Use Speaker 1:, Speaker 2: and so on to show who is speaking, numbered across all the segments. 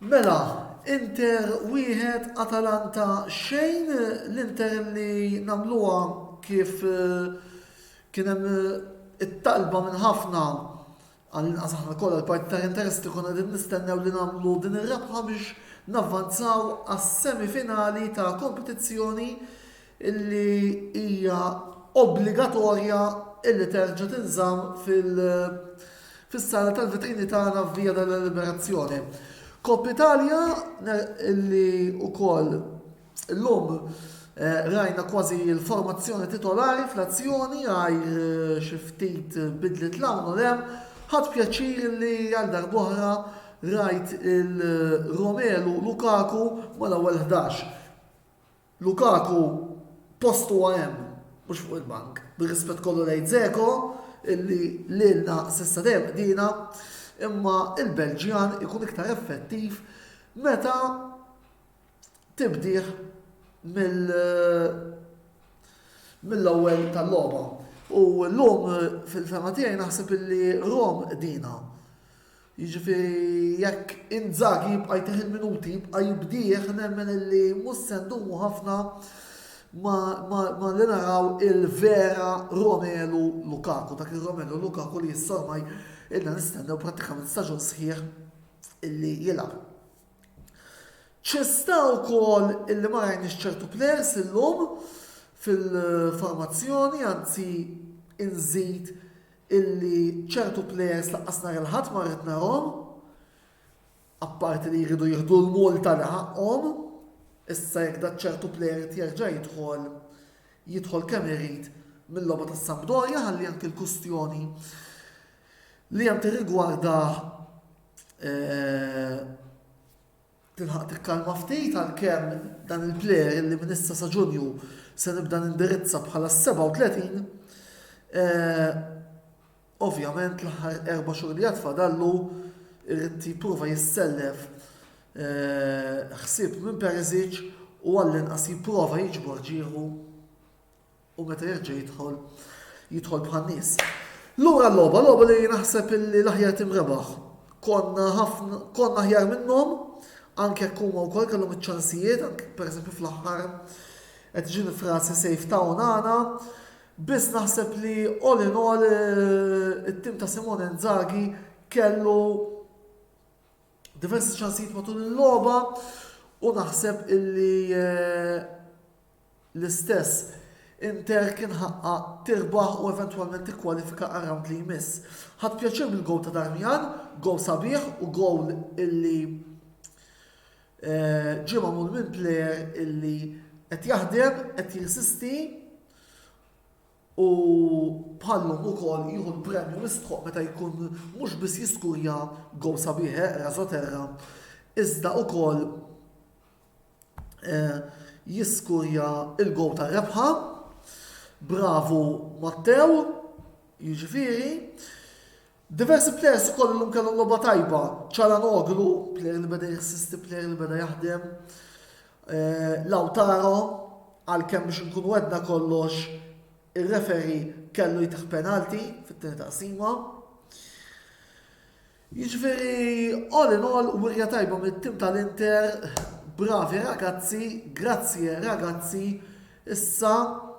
Speaker 1: Mela, Inter wieħed Atalanta xejn l-Inter li namluha kif eh, kien hemm eh, it-talba minn ħafna Għall-inqas aħna kollha l-parti tal-interess li konna qegħdin nistennew li nagħmlu din ir-rebħa biex navvanzaw għas-semifinali ta' kompetizzjoni li hija obbligatorja li terġa' tinżamm fis-sala tal-vitrini tagħna f'Via della Liberazione. Coppa Italia li wkoll Illum rajna kważi l-formazzjoni titolari fl-azzjoni għajr xi ftit bidliet 'l hawn u 'l hemm. Ħadt pjaċir li għal darb'oħra rajt il-Romelu Lukaku mal-ewwel ħdax. Lukaku post huwa hemm, mhux fuq il-bank. Bir-rispett kollu lejn Dzeko illi lilna s'issa dejjem qdiena, imma l-Belġjan ikun iktar effettiv meta tibdih mill-ewwel tal-logħba. U llum fil-fehma tiegħi naħseb illi Rome qdina. Jiġifieri jekk Inzaghi jibqa' jtih il-minuti, jibqa' jibdih nemmen illi mhux se ndumu ħafna malli naraw il-vera Romelu Lukaku, dak ir-Romelu Lukaku li issa ormai ilna nistennew prattikament staġun sħiħ illi jilgħab. Xi sta wkoll illi ma rajniex ċertu players illum fil-formazzjoni, anzi inżid illi ċertu players lanqas nhar il-Ħadd ma rrid narahom, apparti li jridu jieħdu l-multa li ħaqqhom, issa jekk dak ċertu player irid jerġa' jidħol, jidħol kemm irid mil-logħba tas-Sampdoria ħalli anki l-kwistjoni li hemm tirrigwardah tilħaq tikkalma ftit għalkemm dan il-plejer li minn issa sa Ġunju se nibda nindirizza bħala s-37, ovvjament l-aħħar erba' xhur li għad fadallu jrid jipprova jissellef ħsieb minn Perisic u għallinqas jipprova jiġbor ġieħu u meta jerġa' jidħol, jidħol bħan-nies. Lura l-logħba, logħba li naħseb li l-aħjar tim rebaħ. Konna ħafna, konna aħjar minnhom, anke jekk huma wkoll kellhom iċ-ċansijiet, anke pereżempju fl-aħħar qed ġini frasi safe town għana, biss naħseb li all in all eh, it-tim ta' Simone Nzagi kellu diversi ċansijiet matul il-logħba u naħseb illi eh, L-istess, Inter kien ħaqqha tirbaħ u eventwalment tikkwalifika għar-rawnd li jmiss. Ħadt pjaċir mill-gowl ta' Darmian, gowl sabiħ u gowl illi ġie magħmul minn plejer illi qed jaħdem, qed jirsisti u bħallhom ukoll jieħu l-premju mistħoqq meta jkun mhux biss jiskurja gowl sabiħ eqra soterra iżda ukoll jiskurja il-gowl ta' rebħa. Bravu Matteo, jiġifieri. Diversi players ukoll illum kellhom logħba tajba. Ċaranoglu, player li beda jassisti, player li beda jaħdem. Eh, Lautaro, għalkemm biex nkunu għedna kollox, ir-referi kellu jitħ penalti fit-tieni taqsima. Jiġifieri all in all wirja tajba mit-tim tal-Inter, bravi ragazzi, grazie ragazzi, issa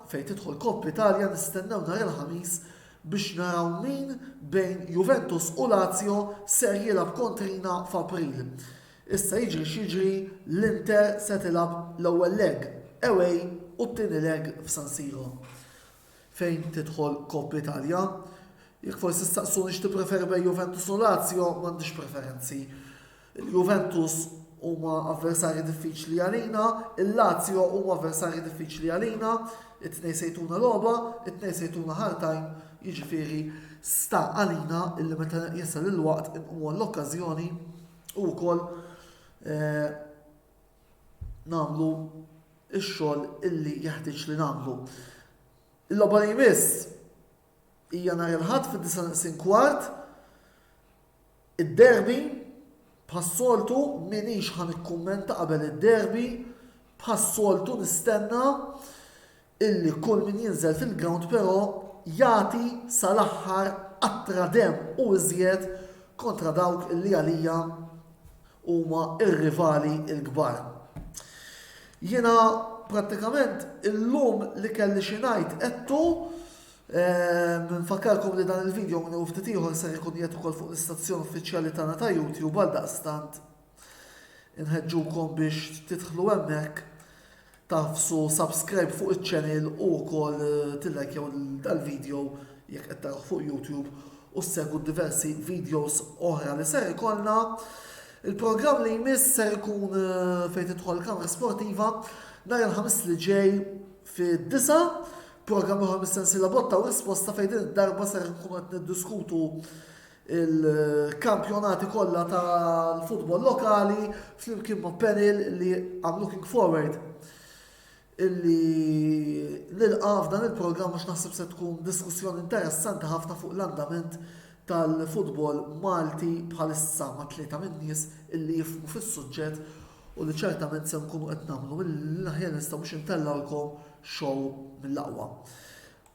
Speaker 1: fejn tidħol Coppa Italia nistennew nhar il-Ħamis biex naraw min bejn Juventus u Lazio ser jilgħab kontrina f'April. Issa jiġri x'jiġri l-Inter se tilgħab l-ewwel leg away u t-tieni leg f'San Siro. fejn tidħol Coppa Italia. Jekk forsi staqsuni x'tippreferi bejn Juventus u Lazio, m'għandix preferenzi. Il-Juventus huma avversarji diffiċli għalina, il-Lazio huma avversarji diffiċli għalina, it-tnej sejtuna logħba, it-tnej sejtuna ħartajn, jiġifieri sta għalina illi meta jasal il-waqt inqumu l-okkażjoni u wkoll eh, nagħmlu x-xogħol illi jeħtieġ li nagħmlu. Il-logħba li jmiss hija nhar il-Ħadd fid-9 kwart id-derby bħas-soltu minix ħan ikkummenta qabel id-derby bħas-soltu nistenna illi kull min jinżel fil-grawnd però jagħti sal-aħħar qatra demm u iżjed kontra dawk li għalija huma r-rivali l-kbar. Jiena prattikament illum li kelli xi ngħid għedtu ehm, Nfakkarkom li dan il-video minn ftit ieħor ser ikun jgħid ukoll fuq l-istazzjon uffiċjali tagħna ta' YouTube għal daqstant Inħeġġukom biex tidħlu hemmhekk tafsu subscribe fuq iċ-channel u wkoll eh, tillajkjaw dal-video jekk qed taraw fuq YouTube u ssegwu diversi videos oħra li ser ikollna. Il-programm li jmiss ser ikun eh, fejn tidħol kamra sportiva nhar il-ħamis li ġej fid-disa' programm oħra mis-sensiela botta u risposta fejn din id-darba ser nkunu qed niddiskutu il-kampjonati kollha tal-futbol lokali flimkien ma' panel li I'm looking forward illi nilqa f'dan il-programm għax naħseb se tkun diskussjoni interessanti ħafna fuq l-andament tal-futbol Malti bħalissa ma' tlieta minn nies illi jifmu fis-suġġett u li ċertament se nkunu qed nagħmlu mill-aħjar nistgħu biex intellgħulkom show mill-aqwa.